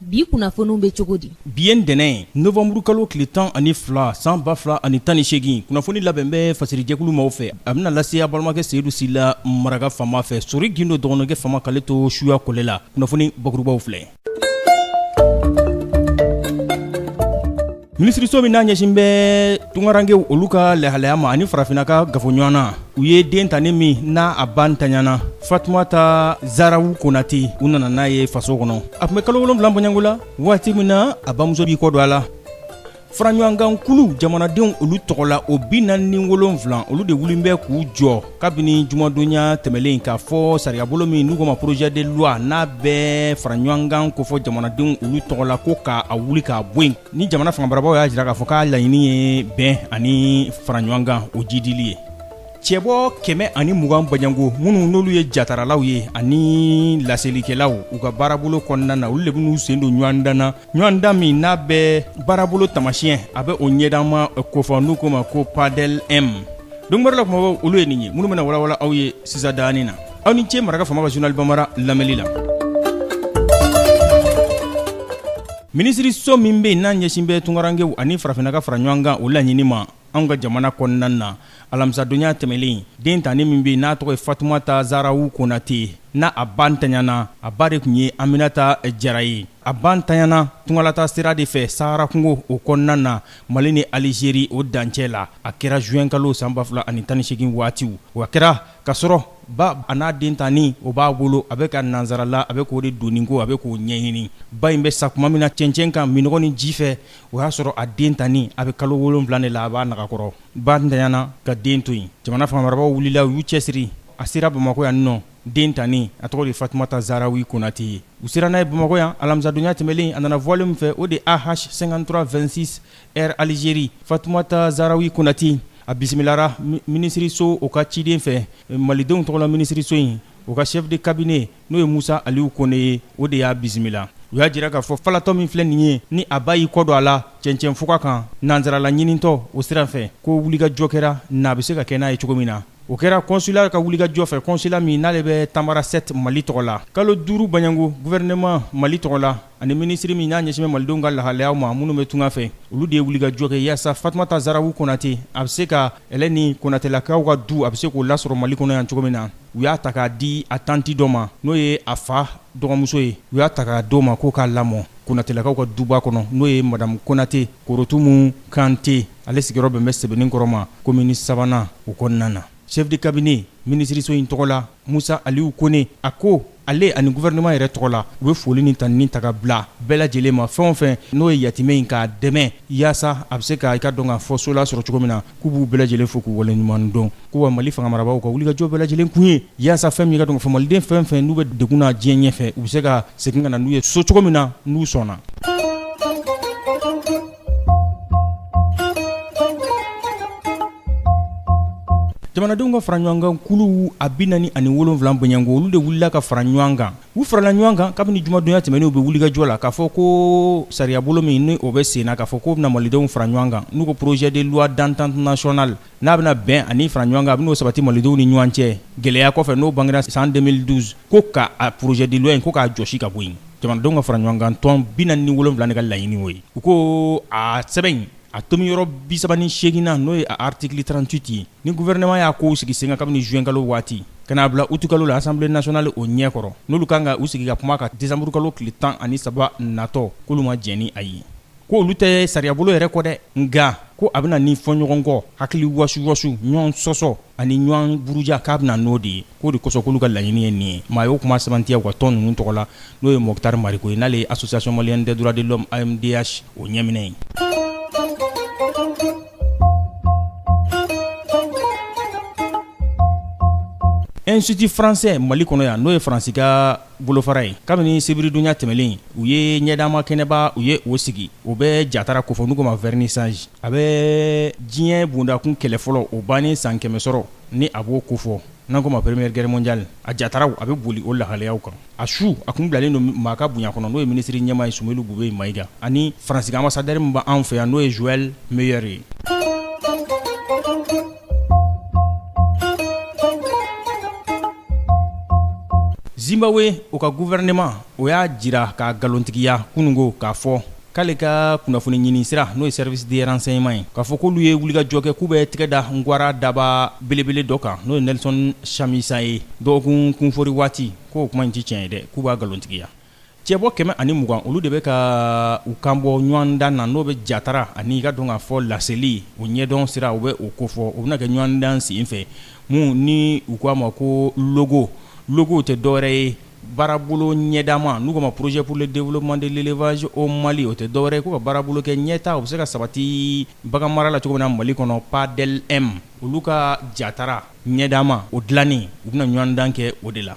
bi kunnafoniw bɛ cogo di bi ye ntɛnɛn ye novanburu kalo tile tan ani fila san ba fila ani tan ni seegin kunnafoni labɛn bɛ fasirijɛkulu maaw fɛ a bɛna lase aw balimakɛ seyidu sila maraka faama fɛ sori gindo dɔgɔnɔkɛ faama k'ale to suya kɔlɛ la kunnafoni bakurubaw filɛ minisiriso min n'a ɲɛsin bɛ tunkarankew olu ka lahalaya ma ani farafinna ka gafoɲɔgɔn na u ye den tannin min n'a a ba ntanyana fatumata zarawu konate u nana n'a ye faso kɔnɔ a tun bɛ kalo wolonwula baɲango la waati min na a bamuso b'i kɔ don a la faraɲɔgɔnkan kulu jamanadenw olu tɔgɔ la o bi naani ni wolonwula olu de wulilen bɛ k'u jɔ kabini jumadonya tɛmɛlen k'a fɔ sariyabolo min n'u k'a ma projet de loi n'a bɛ fara ɲɔgɔnkan kofɔ jamanadenw olu tɔgɔ la ko k'a wuli k'a bɔ yen ni jamana fangamarabaaw y'a jira k'a fɔ k'a laɲini ye bɛn ani fara ɲɔgɔnkan o jidili ye cɛbɔ kɛmɛ ani mugan baɲango minnu n'olu ye jataralaw ye ani laselikɛlaw u ka baarabolo kɔnɔna na olu de bɛn'u sen don ɲɔgɔn dan na ɲɔgɔn dan min n'a bɛ baarabolo tamasiyɛn a bɛ o ɲɛdan ma kofɔ n'u ko ma ko padɛl m donkibaru la kumabaw olu ye nin ye minnu bɛna walawala aw ye sisan daani na aw ni ce maraka faama ka journal bambara lamɛnni la minisiriso min bɛ yen n'a ɲɛsin bɛ tunkarankew ani farafinna ka fara ɲɔgɔn kan o laɲini ma anw ka jamana kɔnɔna na alamisadonya tɛmɛlen den tannin min bɛ yen n'a tɔgɔ ye fatumata zarawu konate n'a a ba ntanyana a ba de tun ye aminata jara ye a ba ntanyana tungalataa sira de fɛ saharakungo o kɔnɔna na mali ni alizeri o dancɛ la a kɛra zuwɛnkalo san 2018 waatiw a kɛra k'a sɔrɔ ba a n'a den tannin o b'a bolo a bɛ ka nansarala a bɛ k'o de doni ko a bɛ k'o ɲɛɲini ba in bɛ sa tuma min na cɛncɛn kan minnɔgɔ ni ji fɛ o y'a sɔrɔ a den tannin a bɛ kalo wolonwula de la a b'a nagakɔrɔ, ba ntanyana ka den to yen, jamana fangamarabagaw wulila u y'u cɛsiri a sera Bamakɔ yan ninɔ den tannin a tɔgɔ de ye Fatumata Zaharawi Konate ye, u sera n'a ye Bamakɔ yan alamisadonya tɛmɛlen a nana vol min fɛ o de ye AH 5326 Air Algerie Fatumata Zaharawi Konate a bisimilara minisiriso o ka ciden fɛ Malidenw tɔgɔla minisiriso in o ka chef de cabinet n'o ye musa aliw kone ye o de y'a bisimila u y'a jira k'a fɔ falatɔ min filɛ nin ye ni a ba y'i kɔ don a la cɛncɛn fuga kan nansarala ɲinintɔ o sira fɛ ko wulikajɔ kɛra n'a bɛ se ka kɛ n'a ye cogo min na o kɛra kɔnsula ka wulikajɔ fɛ kɔnsula min n'ale bɛ tamanrasset mali tɔgɔ la kalo duuru baɲangu guvɛrɛnɛman mali tɔgɔ la ani minisiri min n'a ɲɛsin bɛ malidenw ka lahalayaw ma minnu bɛ tunga fɛ olu de ye wulikajɔ kɛ yaasa fatumata zarawu konate a bɛ se ka ɛlɛ ni konatelakaw ka du a bɛ se k'o lasɔrɔ mali kɔnɔ yan cogo min na u y'a ta k'a di a tanti dɔ ma n'o ye a fa dɔgɔmuso ye u y'a ta k'a di o ma k'o k'a lamɔ konatelakaw ka duba kɔnɔ n'o ye madamu konate korotumu kante ale sigiyɔrɔ bɛn bɛ sɛbɛnninkɔrɔ ma komini sabanan o kɔnɔna na chef de cabinet minisiriso in tɔgɔ la musa aliyu kone a ko ale ani gouvernement yɛrɛ tɔgɔ la u bɛ foli ni tanuni ta ka bila bɛɛ lajɛlen ma fɛn o fɛn n'o ye yatimɛ in k'a dɛmɛ yaasa a bɛ se ka i ka dɔn ka fɔ so lasɔrɔ cogo min na k'u b'u bɛɛ lajɛlen fo k'u waleɲuman dɔn ko wa mali fangamarabaaw ka wulikajɔ bɛɛ lajɛlen kun ye yaasa fɛn min i ka dɔn ka fɔ maliden fɛn fɛn n'u bɛ degun na diɲɛ ɲɛfɛ u bɛ se ka segin ka na n'u ye so cogo min na n'u sɔnna jamanadenw ka fara ɲɔgɔn kan kuluw a bi naani ani wolonwula bɔɲɔgɔnko olu de wulila ka fara ɲɔgɔn kan u farala ɲɔgɔn kan kabini jumadonya tɛmɛnen u bɛ wulikajɔ la k'a fɔ ko sariyabolo min ni o bɛ sen na k'a fɔ ko bɛna malidenw fara ɲɔgɔn kan n'u ko projet de loi d'entente nationale n'a bɛna bɛn ani fara ɲɔgɔn kan a bɛn'o sabati malidenw ni ɲɔgɔn cɛ gɛlɛya kɔfɛ n'o bangera san 2012 ko ka a projet de loi in ko k'a jɔsi ka bɔ yen jamanadenw ka fara ɲɔgɔn kan tɔn bi naani ni wolonwula de ka laɲini y'o ye u ko a sɛbɛn in a tomiyɔrɔ bi saba ni seegin na n'o ye a article 38 ye ni gouvernement y'a kow sigi sen kan kabini zuwɛnkalo waati ka n'a bila utukalo la assemblée nationale o ɲɛ kɔrɔ n'olu kan ka u sigi ka kuma a kan desanburukalo tile tan ani saba natɔ k'olu ma jɛn ni a ye ko olu tɛ sariyabolo yɛrɛ kɔn dɛ nka ko a bɛ na ni fɔɲɔgɔnkɔ hakili wasuwasu ɲɔgɔn sɔsɔ ani ɲɔgɔn buruja k'a bɛ na n'o de ye k'o de kosɔn k'olu ka laɲini ye nin ye maa y'o kuma sɛbɛntiya u ka tɔn ninnu tɔgɔ la n'o ye moktar mariko ye n'ale ye association malienne des droits de l'homme amdh o ɲɛminɛ ye institut français mali kɔnɔ yan n'o ye faransi ka Bolofara ye kabini sibiridonnya tɛmɛnen u ye ɲɛdama kɛnɛba u ye o sigi o bɛ jatara kofɔ n'u ko ma vernissage a bɛ diɲɛ bondakun kɛlɛ fɔlɔ o bannen san kɛmɛ sɔrɔ ni a b'o kofɔ n'an ko ma première guerre mondiale a jataraw a bɛ boli o lahalayaw kan a su a tun bilalen don maa ka bonya kɔnɔ n'o ye minisiri ɲɛmaa ye soumeylou boubèye maïga ani faransi ka ambassadeur min b'an fɛ yan n'o ye joël meyer ye Zimbabwe o ka gouvernement o y'a jira k'a nkalontigiya kunun ko k'a fɔ k'ale ka kunnafoni ɲini sira n'o ye service de renseignement ye k'a fɔ k'olu ye wulikajɔ kɛ k'u bɛ tɛgɛ da ngwara daba belebele dɔ kan n'o ye Nelson Chamisa ye dɔgɔkun kunfori waati k'o kuma in tɛ tiɲɛ ye dɛ k'u b'a nkalontigiya Cɛbɔ kɛmɛ ani mugan olu de bɛ ka u kan bɔ ɲɔgɔndan na n'o bɛ jatara ani i ka dɔn ka fɔ laseli o ɲɛdɔn sira o bɛ o kofɔ o bɛna kɛ ɲɔgɔndan sen fɛ min ni u k'a ma ko logo logo tɛ dɔwɛrɛ ye baarabolo ɲɛdama n'u ko ma projet pour le développement de l'élevage au mali o tɛ dɔwɛrɛ ye ko ka baarabolo kɛ ɲɛtaa o bɛ se ka sabati bagan mara la cogo min na mali kɔnɔ padel-m olu ka jatara ɲɛdama o dilanni u bɛna ɲɔgɔndan kɛ o de la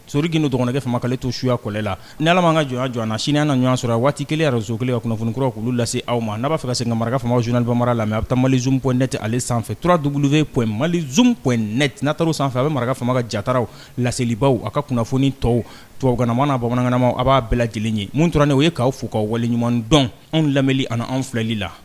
Sori gindo dɔgɔnɔkɛ faama k'ale to suya kɔlɛ la ni ala m'an ka jɔnya jɔ an na sini an na ɲɔgɔn sɔrɔ a waati kelen arajo kelen ka kunnafoni kuraw k'olu lase aw ma n'a b'a fɛ ka segin ka maraka faamaw journal bambara lamɛn a bɛ taa malizoom point net ale sanfɛ trois w point malizoom point net n'a taara o sanfɛ a bɛ maraka faama ka jataraw laselibaw a ka kunnafoni tɔw tubabukanama n'a bamanankanama a b'a bɛɛ lajɛlen ye mun tora nin o ye k'aw fo k'aw waleɲuman dɔn anw lamɛnli ani anw filɛli la